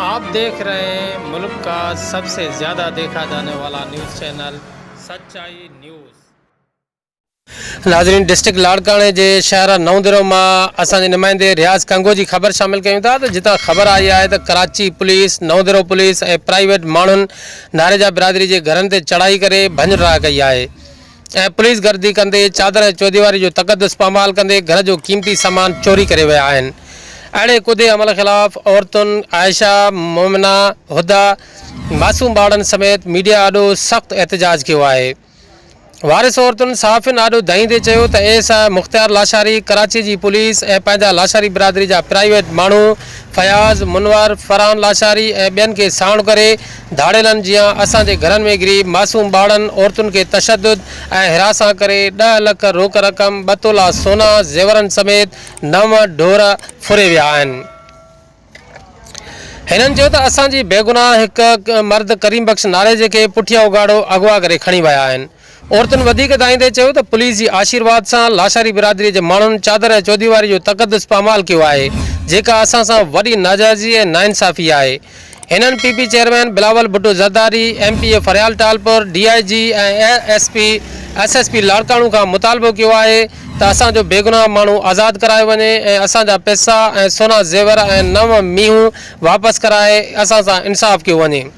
آپ ديکھ رھي ھين ملڪ کا سب سي زياده ديکھا جاني والا نيوز چينل سچائي نيوز. ناظرين ڊسٽرڪٽ لاڙڪاڻي جي شهر نئوندرو مان اسان جي نمائندي رياض ڪنگوجي خبر شامل ڪيون ٿا ته جتان خبر آئي آهي ته Karachi police Naundero police ۽ private ماڻهن ناريجا برادري جي گهرن تي چڙهائي ڪري ڀڃ ڊاهه ڪئي آهي ۽ پوليس گردي ڪندي چادر ۽ چوديواري جو تقدس پامال ڪندي گهر جو قيمتي سامان چوري ڪري ويا آهن اهڙي ڪودي عمل خلاف عورتن عائشه مومنه هديٰ معصوم ٻارڙن سميت ميڊيا آڏو سخت احتجاج ڪيو آهي وارث عورتن صحافين آڏو دانهيندي چيو ته A S I Mukhtiar Lashari Karachi جي پوليس ۽ پنهنجا لاشاري برادري جا پرائيويٽ ماڻهو فياض منور فرحان لاشاري ۽ ٻين کي ساڻ ڪري ڌاڙيلن جيان اسان جي گهرن ۾ غريب معصوم ٻارڙن عورتن کي تشدد ۽ هراسان ڪري ڏهه لک روڪ رقم ٻه تولا سونا زيورن سميت نو ڍور ڦري ويا آهن هنن چيو ته اسان جي بيگناهه هڪ مرد ڪريم بخش ناريجي کي پٺيان اگهاڙو اغوا ڪري کڻي ويا آهن عورتن وڌيڪ دانهيندي چيو ته پوليس جي آشيرواد سان لاشاري برادري جي ماڻهن چادر ۽ چوديواري جو تقدس پامال ڪيو آهي جيڪا اسان سان وڏي ناجائزي ۽ ناانصافي آهي هنن P P chairman Bilawal Bhutto Zardari M P A Faryal Talpur D I G ۽ S P S S P Larkana کان مطالبو ڪيو آهي ته اسان جو بيگناهه ماڻهو آزاد ڪرايو وڃي ۽ اسان جا پئسا ۽ سونا زيور ۽ نو مينهون واپس ڪرائي اسان سان انصاف ڪيو وڃي.